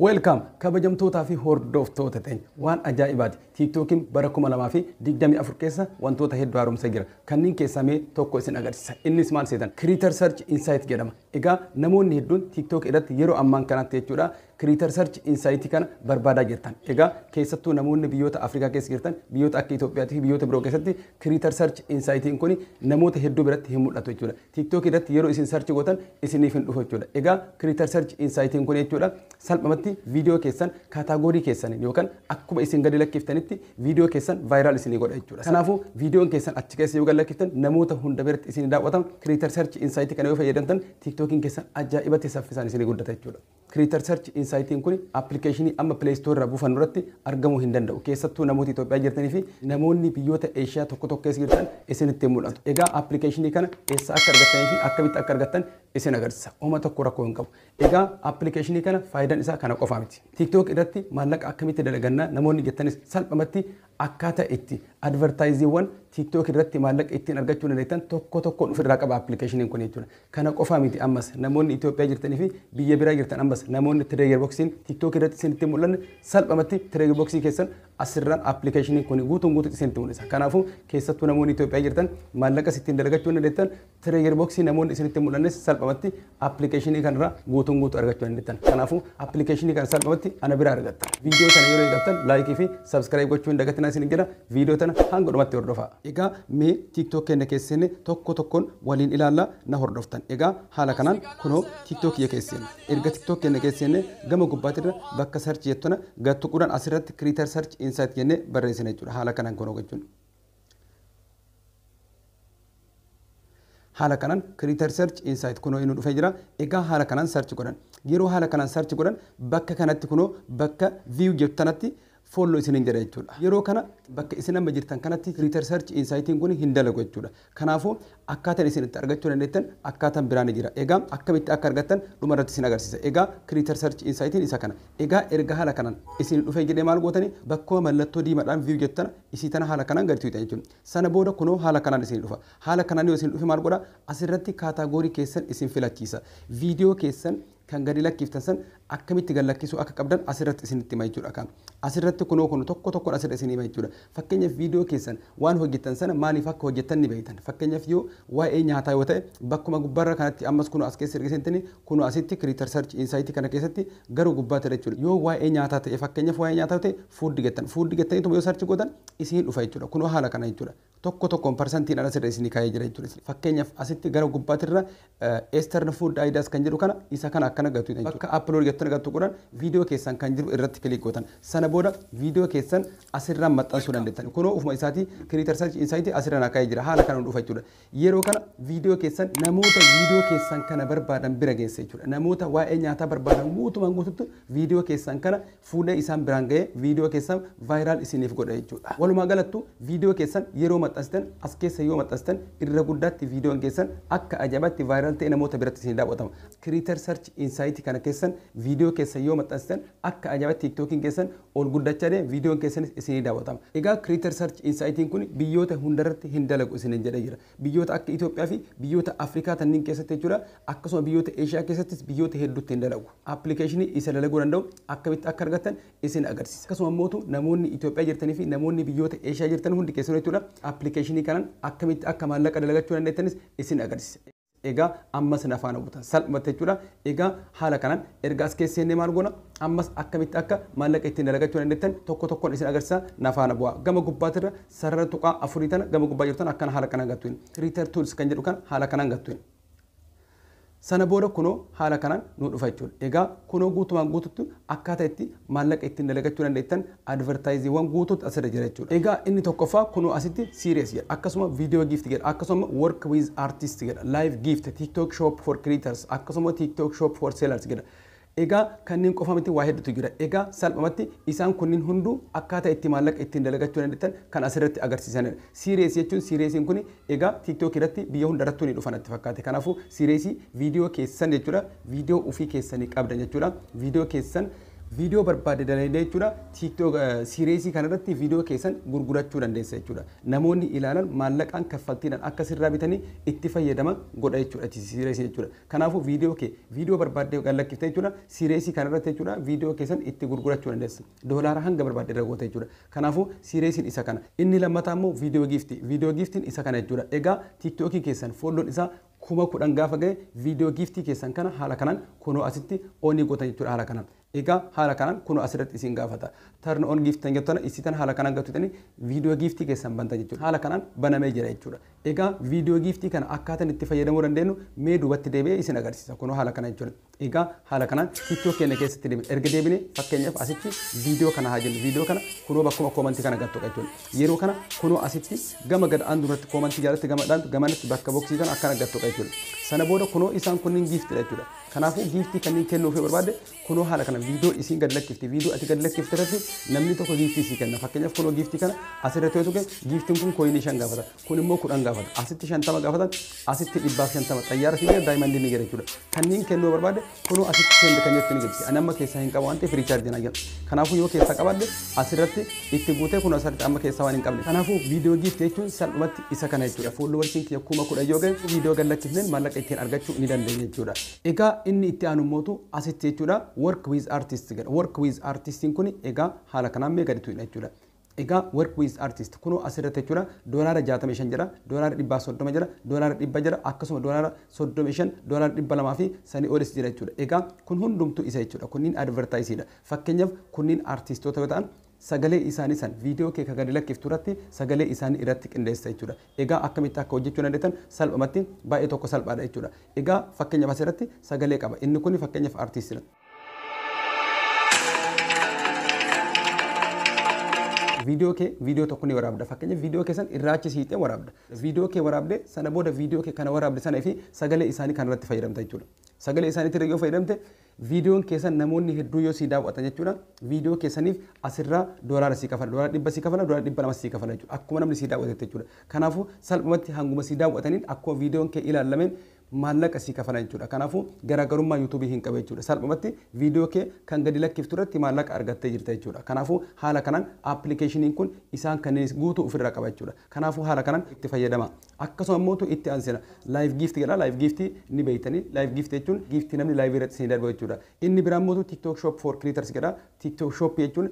Welcome kabajamtootaa fi hordoftoota teenya waan ajaa'ibaati tiiktookiin bara 2024 keessa wantoota hedduu haaromsa jira kanneen keessaa mee tokko isin agarsiisa innis maal seetan creator search insight jedhama egaa namoonni hedduun tiiktook irratti yeroo ammaan kanatti jechuudha creator search insight kana barbaadaa jirtan egaa keessattuu namoonni biyyoota Afrikaa keessa jirtan biyyoota akka Itoophiyaa fi biyyoota biroo keessatti creator search insight kun namoota hedduu biratti hin mul'atu jechuudha TikTok irratti yeroo isin search gootan isiniif hin dhufu jechuudha. Egaa Creator Search Insight kun jechuudha salphamatti viidiyoo keessan kaataagorii keessaniin yookaan akkuma isin gadi lakkiftanitti viidiyoo keessan viral isinii godha jechuudha. Kanaafuu viidiyoon keessan achi keessa yoo gad lakkiftan namoota hunda biratti isinii daawwata. Creator Search Insight kana yoo fayyadamtan TikTokiin keessan ajaa'ibatti saffisaan isinii guddata jechuudha. Creator Search Insight kuni application amma Play Store irraa buufannu irratti argamuu hin danda'u. Keessattuu namoota Itoophiyaa jirtanii fi namoonni biyyoota Eeshiyaa tokko tokko keessa jirtan isinitti hin mul'atu. Egaa application kana eessaa akka argattanii fi akkamitti akka argattan isin agarsiisa. Homa tokko rakkoo hin qabu. Egaa application kana faayidaan isaa kana qofaa miti. TikTok irratti maallaqa akkamitti dalaganna namoonni jettanis salphamatti Akkaataa itti advertise-wwan TikTok irratti maallaqa ittiin argachuu dandeettan tokko tokkoon of irraa qaba application-iin kun jechuudha. Kana qofaa miti ammas namoonni Ethiopia jirtanii fi biyya biraa jirtan ammas namoonni Trigger Box-iin TikTok irratti isinitti hin mul'anne salphamatti Trigger Box keessan asirraan application-iin kun guutuun guutuutti isinitti mul'isa. Kanaafuu keessattuu namoonni Ethiopia jirtan maallaqas ittiin dalagachuu dandeettan Trigger box namoonni isinitti hin mul'annes salphamatti appilikeeshinii kanarraa guutuun guutuu argachuu dandeettan. Kanaafuu appilikeeshinii kana salphamatti ana biraa argatta. Viidiyoo sana yeroo eegaltan laayikii fi sabskiraayib gochuu hin dagatinaa isiniin jedha. Viidiyoo tana hanga dhumatti hordofaa. Egaa mee TikTok keenya keessa seenne tokko tokkoon waliin ilaalla na hordoftan. Egaa haala kanaan kunoo TikTok kiyya keessa seenne. Erga TikTok keenya keessa seenne gama gubbaatirra bakka search jettu tana gad tuquudhaan asirratti creator search insight jennee barreessina jechuudha. Haala kanaan kunoo gochuun. haala kanan creator search insight kuno inu dhufe jira egaa haala kanan search godhan yeroo haala kanan search godhan bakka kanatti kuno bakka view jettu tanatti follow isinin jedha jechuudha yeroo kana bakka isin amma jirtan kanatti creator search insight kun hin dalagu jechuudha kanaafuu akkaataan isin itti argachuu dandeettan akkaataan biraa ni jira egaa akkamitti akka argattan dhuma irratti isin agarsiisa egaa creator search insight isa kana egaa erga haala kanan isin dhufee jedhee maal gootani bakkuma mallattoo diimadhaan view jettana isii tana haala kanaan gadi tuqxan jechuudha. Sana booda kunoo haala kanaan isinii dhufa. Haala kanaan yoo isin dhufe maal godha? Asirratti kaataagorii keessan isin filachiisa. Viidiyoo keessan kan gadi lakkiftan san akkamitti gad lakkisuu akka qabdan asirratti isinitti hima jechuudha kaa. Asirratti kunoo kun tokko tokkoon asirra isinii hima jechuudha. Fakkeenyaaf viidiyoo keessan waan hojjettan sana maaliif akka hojjettan ni beektan. Fakkeenyaaf yoo waa'ee nyaataa yoo ta'e bakkuma gubbaarra kanatti ammas kunoo as keessa erga seentanii kunoo asitti creator search insight kana keessatti gara gubbaatti jechuudha. Yoo waa'ee nyaataa ta'e fakkeenyaaf waa'ee nyaataa yoo ta'e Food jettan food jettaniituma yoo search gootan isiin dhufa jechuudha. Kunoo haala kana jechuudha. Tokko tokkoon parsantiidhaan asirra isinii kaa'ee jira jechuudha. Fakkeenyaaf asitti gara gubbaatirra Eastern Food Ideas kan jedhu kana isa kana akkana gatuudha jechuudha. Bakka upload jettan gatu godhan viidiyoo keessan kan jiru irratti click gootan. Sana booda viidiyoo keessan asirraan maxxansuu dandeettan. Kunoo ofuma isaatii Creator Search Insight asirra naa kaa'ee jira. Haala kanaan dhufa jechuudha. Yeroo kana video keessan namoota video keessan kana barbaadan bira geessa jechuudha. Namoota waa'ee nyaataa barbaadan guutumaan guututti video keessan kana fuudhee isaan biraan ga'ee video keessan viral isiniif godha jechuudha. Walumaa galattu video keessan yeroo maxxansitan as keessa yoo maxxansitan irra guddaatti videon keessan akka ajaa'ibatti viral ta'e namoota biratti isin daawwatama. Creator Search Insight kana keessan video keessan yoo maxxansitan akka ajaa'ibatti TikTokin keessan ol guddacha deema videon keessanis isinii dawatama egaa creator search insight kun biyyoota hundarratti hin dalagu isinin jedhe jira biyyoota akka Ethiopia fi biyyoota Africa tannin keessatti jechudha akkasuma biyyoota Asia keessattis biyyoota heddutti hin dalagu application isa dalaguu danda'u akkamitti akka argattan isin agarsisa akkasuma mootu namoonni Ethiopia jirtanii fi namoonni biyyoota Asia jirtan hundi keessanuu jechudha application kanan akkamitti akka maallaqa dalagachuu dandeettanis isin agarsisa Egaa amma isin afaan hawwatan salphatte jechuudha. Egaa haala kanaan erga as keessa seennee maal goona? Ammas akkamitti akka maallaqa ittiin dalagachuu dandeettan tokko tokkoon isin agarsiisa na faana bu'aa. Gama gubbaatirra sarara tuqaa afurii tana gama gubbaa jirtu tana akkana haala kanaan gattuin. Creator Tools kan jedhu kana haala kanaan gattuin. Sana booda kunoo haala kanaan nu dhufa jechuudha. Egaa kunoo guutumaan guututti akkaataa itti maallaqa ittiin dalagachuu dandeettan advertisewan guutuutu asirra jira jechuudha. Egaa inni tokkoffaa kunoo asitti series jedha. Akkasuma video gift jedha. Akkasuma work with artist jedha. Live gift, tiktok shop for creators, akkasuma tiktok shop for sellers jedha. Egaa kanneen qofa miti waa hedduutu jira. Egaa salphumatti isaan kunniin hunduu akkaataa itti maallaqa ittiin dalagachuu dandeettan kan asirratti agarsiisanidha. Series jechuun seriesiin kun egaa tiktok irratti biyya hunda irrattuu ni dhufa natti fakkaate. Kanaafuu seriesii video keessan jechuudha. Video ofii keessanii qabdan jechuudha. Video keessan Video barbaadde dalaydee jechuudha. TikTok series kana irratti video keessan gurgurachuu dandeessa jechuudha. Namoonni ilaalan maallaqaan kaffaltiidhaan akka sirraa bitanii itti fayyadama godha jechuudha series jechuudha. Kanaafuu video kee video barbaadde gad lakkifte jechuudha. Series kana irratti jechuudha video keessan itti gurgurachuu dandeessa. Doolaara hanga barbaadde irra goota jechuudha. Kanaafuu series isa kana. Inni lammataa immoo video gift. Video giftiin isa kana jechuudha. Egaa TikTok keessan follown isaa kuma kudhan gaafa gahe video giiftii keessan kana haala kanaan kunoo asitti onii gootan jechuudha haala kanaan. Egaa haala kanaan kunoo asirratti isin gaafata. Turn on gift tan jettana isii tan haala kanaan gatutanii video giiftii keessan bantan jechuudha. Haala kanaan banamee jira jechuudha. Egaa video giiftii kana akkaataan itti fayyadamuu dandeenyu mee duubatti deebi'ee isin agarsiisa kunoo haala kana jechuudha. Egaa haala kanaan tiktok keenya keessatti deebine. Erga deebine fakkeenyaaf asitti video kana haa jennu. Video kana kunoo bakkuma comment kana gad tuqa jechuudha. Yeroo kana kunoo asitti gama gad aantu irratti comment jalatti gama dhaantu gamanatti bakka boxii kana akkana gad tuqa jechuudha. Sana booda kunoo isaan kunniin giifti dha jechuudha. Kanaafuu giiftii kanneen kennuuf yoo barbaadde kunoo haala kana video isiin gad lakkifti. Video ati gad lakkifte irratti namni tokko giiftii sii kenna. Fakkeenyaaf kunoo giiftii kana asirratti yoo tuqe giiftiin kun kooyinii shan gaafata. Kun immoo 10 gaafata. Asitti 50 gaafatan, asitti 150. Xayyaara fiigaa daayimandii ni gera jechuudha. Kanneen kennuu barbaade kunoo asitti seend kan jirti ni jirti. Ani amma keessaa hin qabu waan ta'eef riichaarjii naa jedha. Kanaafuu yoo keessaa qabaadde asirratti itti guutee kunoo asirratti amma keessaa waan hin qabne. Kanaafuu viidiyoo giifti jechuun salphumatti isa kana jechuudha. Foollowarsiin kiyya kuma kudhan yoo ga'e viidiyoo gad lakkifneen maallaqa ittiin argachuu ni dandeenya jechuudha. Egaa inni itti aanu immootu asitti jechuudha work with artist jedha. Work with artist kun egaa haala kanaan mee gadi tuqna jechuudha. Egaa work with artist kunoo as irratti jechuudha doolaara 65 jira doolaara 130 jira doolaara 100 jira akkasuma doolaara 35 doolaara 200 fi sanii olis jira jechuudha egaa kun hundumtuu isa jechuudha kunniin advertise dha fakkeenyaaf kunniin artistoota yoo ta'an sagalee isaanii san viidiyoo kee ka gadi lakkiftu irratti sagalee isaanii irratti qindeessa jechuudha egaa akkamitti akka hojjechuu dandeettan salphumatti baay'ee tokko salphaadha jechuudha egaa fakkeenyaaf as irratti sagalee qaba inni kun fakkeenyaaf artist dha viidiyoo kee viidiyoo tokko ni waraabda fakkeenyaaf viidiyoo kee san irraachi siixee waraabda viidiyoo kee waraabde sana booda viidiyoo kee kana waraabde sana fi sagalee isaanii kan irratti fayyadamta jechuudha sagalee isaaniitti irra yoo fayyadamte viidiyoon keessan namoonni hedduu yoo sii daawwatan jechuudha viidiyoo keessaniif asirraa doolaara sii kafala doolaara dhibba sii kafala doolaara dhibba lama sii kafala jechuudha akkuma namni sii daawwatetti jechuudha kanaafuu salphumatti hanguma sii daawwataniin akkuma viidiyoon kee ilaallameen maallaqa sii kafala jechuudha. Kanaafu garaagarummaa YouTube hin qabu jechuudha. Salphumatti video kee kan gadi lakkiftu irratti maallaqa argattee jirta jechuudha. Kanaafu haala kanaan application kun isaan kanneen guutuu ofirraa qaba jechuudha. Kanaafu haala kanaan itti fayyadamaa. Akkasuma immoo itti aansina live gift jedha. Live gift ni beektanii. Live gift jechuun gift namni live irratti isin darbu jechuudha. Inni biraa immoo TikTok shop for creators jedha. TikTok shop jechuun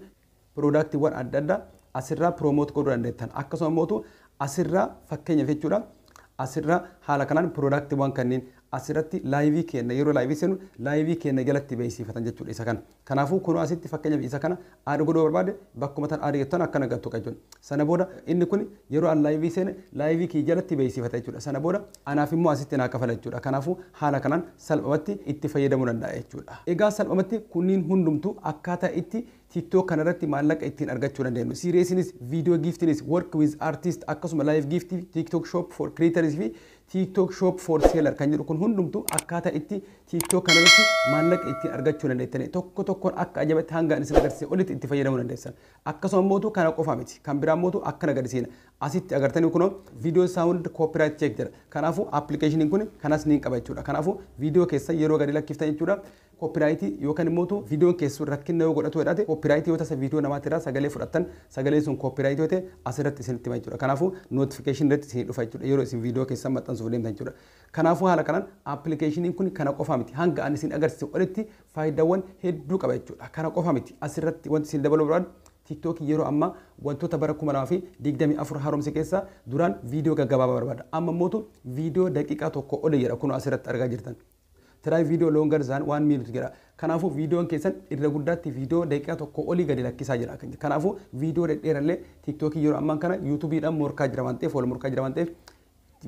Piroodaktiiwwan adda addaa asirraa piroomoot godhuu dandeettan. Akkasuma immoo asirraa fakkeenyaaf jechuudha asirraa haala kanaan piroodaktiiwwan kanneen asirratti laayivii keenna yeroo laayivii seenu laayivii keenna jalatti beeksifatan jechuudha isa kana. Kanaafuu kunoo asitti fakkeenyaaf isa kana aad godhuu barbaade bakkuma tan aad jettan akkana gattu qajechuun. Sana booda inni kun yeroo an laayivii seene laayivii kiyya jalatti beeksifata jechuudha. Sana booda anaaf immoo asitti naa kafala jechuudha. Kanaafuu haala kanaan salphamatti itti fayyadamuu danda'a jechuudha. Egaa salphamatti kunniin hundumtuu akkaataa itti TikTok kana irratti maallaqa ittiin argachuu dandeenyu. Seriesinis, Video Giftinis, Work with Artist akkasuma Live Gift, TikTok Shop for Creators fi TikTok Shop for Seller kan jedhu kun hundumtu akkaataa itti TikTok kana irratti maallaqa ittiin argachuu dandeettani. Tokko tokkoon akka ajabatti hanga ani isin agarsiise olitti itti fayyadamuu dandeessan. Akkasuma mootu kana qofa miti. Kan biraa mootu akkana gadi seena. Asitti agartanii kunoo video sound copyright check jedha. Kanaafuu appilikeeshiniin kun kanas niin qaba jechuudha. Kanaafuu video keessan yeroo gadi lakkiftan jechuudha. Copyright yookan immootu videon keessun rakkinna yoo godhatu jedhate copyright yoo tasa video namati irraa sagalee fudhattan sagaleen sun copyright yoo ta'e asirratti isinitti hima jechuudha kanaafuu notification irratti isinii dhufa jechuudha yeroo isin video keessan maxxansuuf deemtan jechuudha kanaafuu haala kanaan application kun kana qofaa miti hanga an isin agarsise olitti faayidawwan hedduu qaba jechuudha kana qofa miti asirratti wanti isin dabaluu barbaadu TikTok yeroo ammaa wantoota bara 2024 haaromse keessaa duraan video gaggabaabaa barbaada amma immootu video daqiiqaa tokko oli jedha kunoo asirratti argaa jirtan Try video longer than 1 minute jedha. Kanaafuu viidiyoon keessan irra guddaatti viidiyoo daqiiqaa tokkoo olii gadi lakkisaa jedha. Kanaafuu viidiyoo dhedheerallee tiiktookiin yeroo ammaan kana yuutuubiidhaan morkaa jira waan ta'eef wal morkaa jira waan ta'eef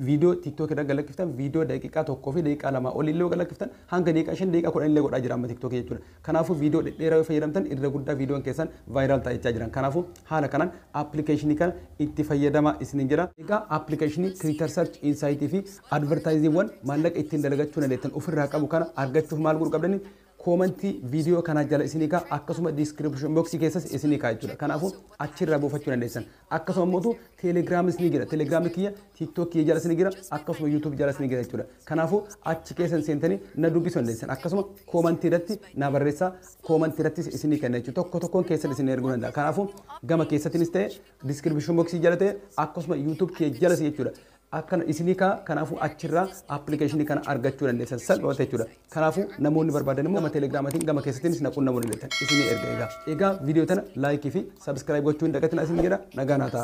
viidiyoo tiiktookii irra galakkiftan viidiyoo daqiiqaa tokkoo fi daqiiqaa lamaa olii illee galakkiftan hanga daqiiqaa shan daqiiqaa kudhan illee godhaa jira amma tiiktookii jechuudha. Kanaafuu viidiyoo dhedheeraa yoo fayyadamtan irra guddaa viidiyoon keessan vaayiraal ta'a jechaa jiran. Kanaafuu haala kanaan appilikeeshinii kana itti fayyadamaa isiniin jedha. Egaa appilikeeshinii Twitter Search Insight fi advertiseewwan maallaqa ittiin dalagachuu dandeettan ofirraa qabu kana argachuuf maal godhuu qabdani? Koomantii viidiyoo kanaa jala isinii ka'a akkasuma description box keessas isinii ka'a jechuudha. Kanaafuu achirraa buufachuu dandeessan. Akkasuma mootu telegrams ni jira. Telegram kiyya tiktok kiyya jalas ni jira. Akkasuma youtube jalas ni jira jechuudha. Kanaafuu achi keessan seentanii na dubbisuu dandeessan. Akkasuma koomantii irratti na barreessaa koomantii irrattis isinii kenna jechuudha. Tokko tokkoon keessan isin erguu danda'a. Kanaafuu gama keessatinis ta'e description box jala ta'e akkasuma youtube kiyya jalas jechuudha. akkana isinii ka'a kanaafuu achirraa application kana argachuu dandeessan salphumatti jechuudha kanaafuu namoonni barbaadan immoo gama telegraamatiin gama keessattiinis na qunnamuu dandeessan isinii erga egaa egaa viidiyoo tana laayikii fi sabskiraayib gochuu hin dagatinaa isin jedha nagaa naa ta'a